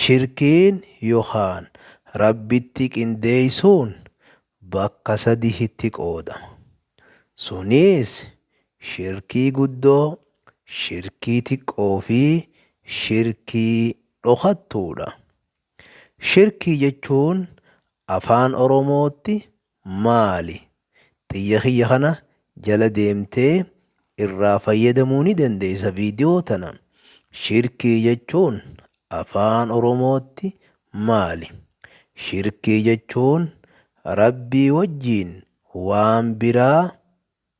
Shirkiin yokaan Rabbitti qindeeysuun bakka sadihitti qoodama. Suniis, shirkii guddoo, shirkii tiqqoo fi shirkii dhokattuudha. Shirkii jechuun Afaan Oromootti maali? Xiyya kiyya kana jala deemtee irraa fayyadamuu ni dandeessa video tana. Shirkii jechuun afaan oromootti maali? Shirkii jechuun Rabbii wajjiin waan biraa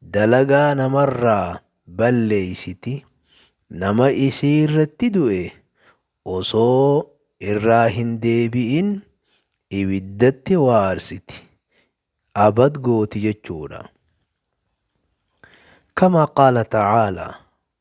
dalagaa namarraa balleeysiti, nama isiirratti du'e osoo irraa hin deebi'in ibiddatti waarsiti, abad gooti jechuudha. Kamaa qaala ta'aalaa,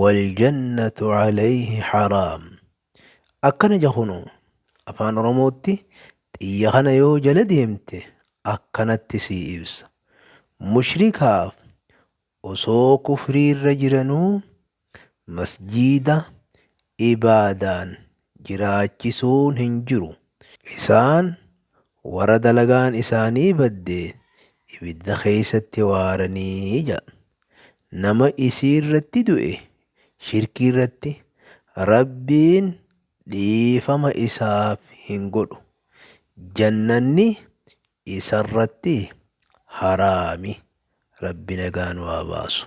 waljannatu alayhi haraam akkana jahunu afaan oromootti xiyya kana yoo jala deemte akkanatti sii ibsa mushrikaaf osoo kufriirra jiranuu masjiida ibaadaan jiraachisuun hin jiru. Isaan warra dalagaan isaanii badde ibidda keessatti waarani jedha. Nama isiirratti du'e, shirkiirratti, Rabbiin dhiifama isaaf hin godhu. Jannanni isarratti haraami. Rabbi nagaan waa baasu.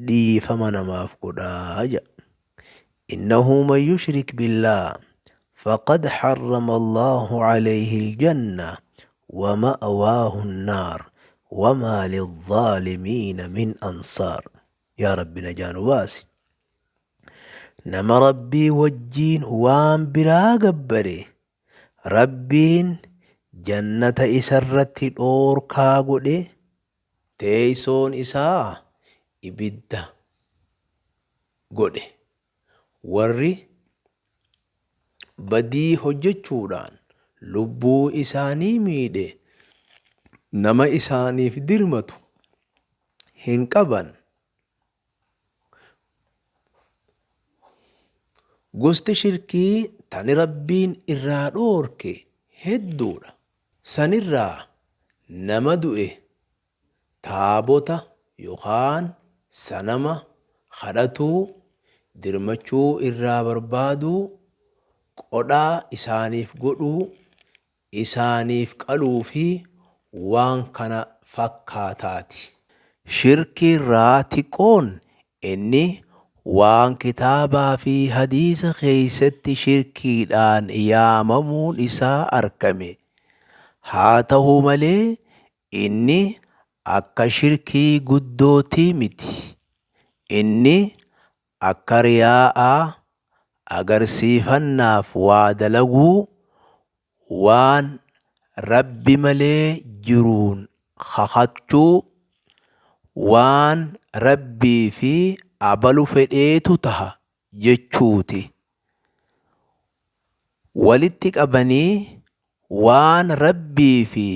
dhiifama namaaf godhaa ja. Innahu man yushrik billaah faqad harrama Allaahu alayhi aljanna wa ma'waahu annaar wa maa lizzaalimiina min ansaar. Yaa Rabbi najaa nu baasi. Nama Rabbii wajjiin waan biraa gabbare Rabbiin jannata isarratti dhoorkaa godhe Teeysoon isaa ibidda godhe. Warri badii hojjechuudhaan lubbuu isaanii miidhe nama isaaniif dirmatu hin qaban. Gosti shirkii tani Rabbiin irraa dhoorke hedduudha. Sanirraa nama du'e taabota yookaan sanama kadhatuu, dirmachuu irraa barbaaduu, qodhaa isaaniif godhuu, isaaniif qaluu fi waan kana fakkaataati. Shirkii irraa tiquun inni waan kitaabaa fi hadiisa keessatti shirkiidhaan yaamamuun isaa argame. Haa tahu malee inni akka shirkii guddootii miti. Inni Akka riyaa'aa, agarsiifannaaf waa dalaguu, waan Rabbi malee jiruun kakachuu, waan Rabbii fi abalu fedheetu taha jechuuti. walitti qabanii waan rabbii fi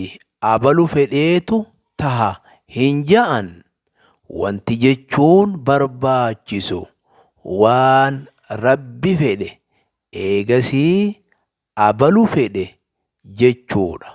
abalu fedheetu taha hin ja'an wanti jechuun barbaachisu waan rabbi fedhe eegasii abalu fedhe jechuudha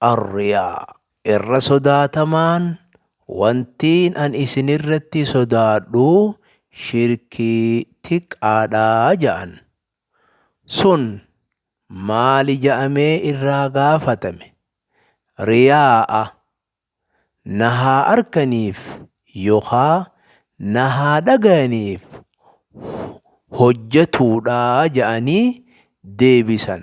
Arriyaa, irra sodaatamaan wantiin an isin irratti sodaadhu shirkii tiqqaadha ja'an. Sun maali ja'amee irraa gaafatame? Riyaa'a, na haa arkaniif yokaa na haa dhagayaniif hojjatuudha ja'anii deebisan.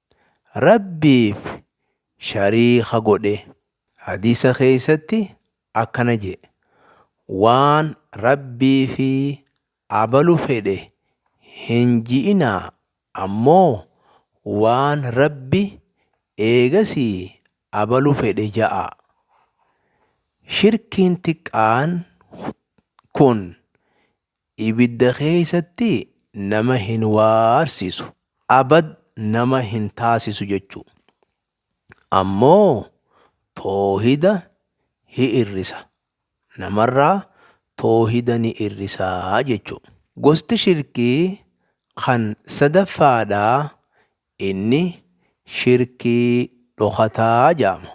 Rabbiif shariika godhe. Hadiisa keessatti akkana je'e, Waan Rabbii fi abalu fedhe hin ji'inaa, ammoo waan Rabbi eegasii abalu fedhe ja'aa. Shirkiin tiqqaan kun ibidda keessatti nama hin waarsisu abad nama hin taasisu jechuu ammoo toohida hi irrisa namarraa toohida ni irrisaa jechuu gosti shirkii kan sadaffaadha inni shirkii dhokataa jaama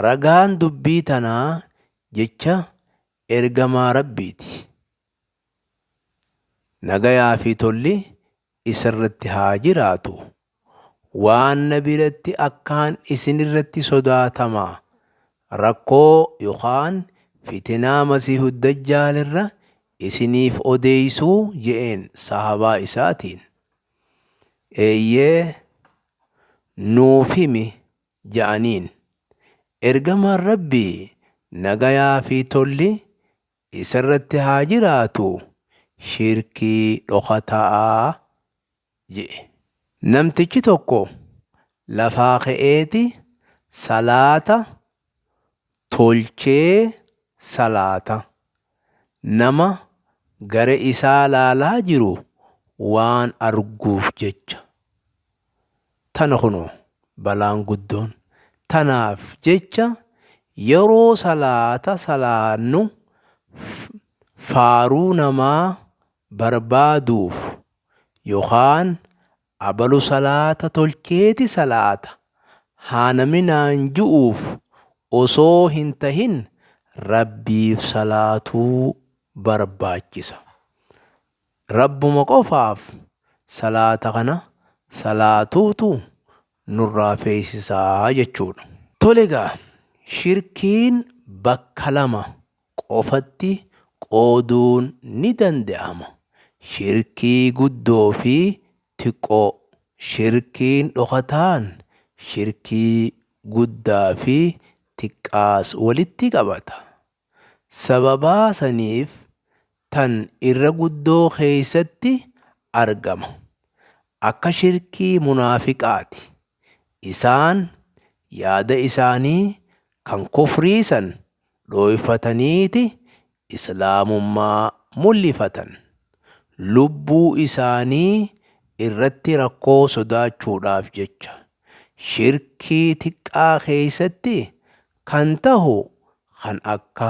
ragaan dubbii tanaa jecha Ergamaa Rabbiiti. Nagayaa fi tolli isarratti haa jiraatu. Waan na biratti akkaan isinirratti sodaatama. Rakkoo yookaan fitinaa Masiihud Dajjaal irra isiniif odeessuu je'een sahaabaa isaatiin. Eeyyee, nuuf himi ja'aniin. Ergamaan Rabbii nagayaa fi tolli isarratti haa jiraatuu shirkii dhokata'a je'e. Namtichi tokko lafaa ka'eeti salaata tolchee salaata, nama gara isaa laalaa jiru waan arguuf jecha. Tana kunoo balaan guddoon. Tanaaf jecha yeroo salaata salaannu faaruu namaa barbaaduuf yookaan Abalu salaata tolcheeti salaata haa naminaan ju'uuf osoo hin tahin Rabbiif salaatuu barbaachisa. Rabbuma qofaaf salaata kana salaatuutu nurraa feesisaa jechuudha. Tole egaa shirkiin bakka lama qofatti qooduun ni danda'ama. Shirkii guddoo fi tiqqoo. Shirkiin dhokataan shirkii guddaa fi tiqqaas walitti qabata. Sababaa saniif tan irra guddoo keeysatti argama. Akka shirkii munaafiqaati. Isaan yaada isaanii kan kufrii san dhooyfataniiti islaamummaa mullifatan. Lubbuu isaanii irratti rakkoo sodaachuudhaaf jecha. Shirkii tiqqaa keeysatti kan tahu kan akka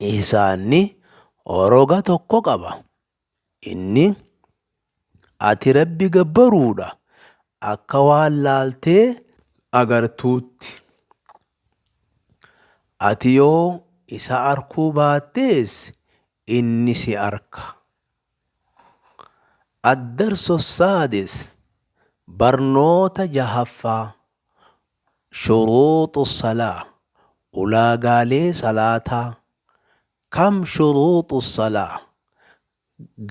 Isaanni roga tokko qaba. Inni, Ati Rabbi gabbaruudha akka waan laaltee agartuutti. Ati yoo isa arkuu baattees inni si arka. Addarso Saadis barnoota jahaffaa Shuruuxu salaa, Ulaagaalee salaataa, Kam shuruuxu salaa?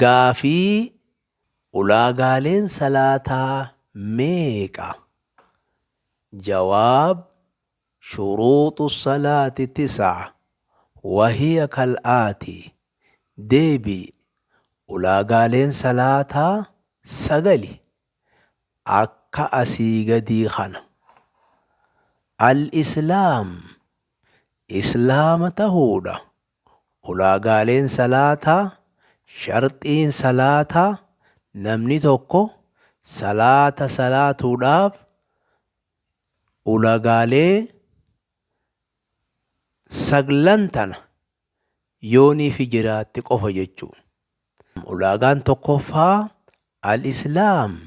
Gaafii, Ulaagaaleen salaataa meeqa? Jawaab, Shuruuxu salaati tis'a, wa hiya kal aati, Deebii, Ulaagaaleen salaataa sagali. akka asii gadii kana. Al-Islaam, Islaama tahuudha. Ulaagaaleen salaataa, sharxiin salaataa, namni tokko salaata salaatuudhaaf ulagaalee saglan tana yoo nifi jiraatte qofa jechuu. Ulaagaan tokkoffaa Al-Islaam,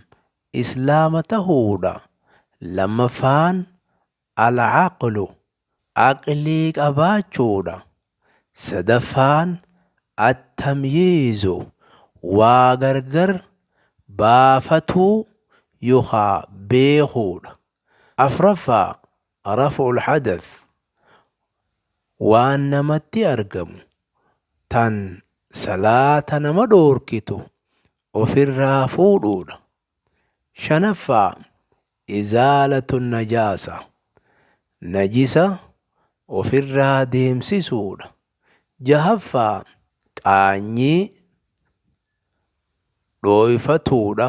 Islaama tahuu, dha. Lammaffaan Al-Aqlu, Aqlii qabaachuu, dha. Sadaffaan At-Tamyiizu, Waa gargar baafatuu yookaa beekuu, dha. Afraffaa Raf'u al-hadath, waan namatti argamu tan salaata nama dhoorkitu ofirraa fuudhuudha. Shanaffaa, izaalatu an-najaasa, najisa ofirraa deemsisuudha. Jahaffaa, qaanyii dhooyfatuudha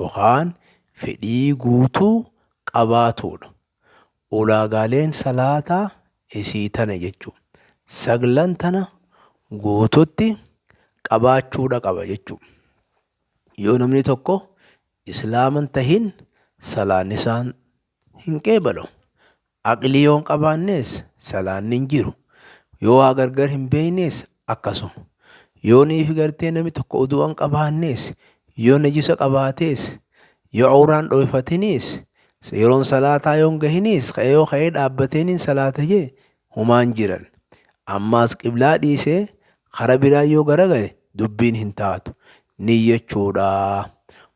yookaan fedhii guutuu qabaatuudha. Ulaagaaleen salaataa isii tana jechu. Saglan tana guututti qabaachuudha qaba jechu. Yoo namni tokko islaaman tahin salaannisaan hin qeebalu. Aqlii yoo hin qabaannees salaanni hin jiru. Yoo waa gargar hin beeynees akkasuma. Yoo niifi gartee nami tokko udu'a hin qabaannees, yoo najisa qabaatees, yoo awraan dhooyfatiniis, yeroon salaataa yoo hin gahiniis ka'ee yoo ka'ee dhaabbatee niin salaata jee humaa hin jiran. Ammaas qiblaa dhiisee kara biraa yoo garagale dubbiin hin taatu. Niyyachuudha.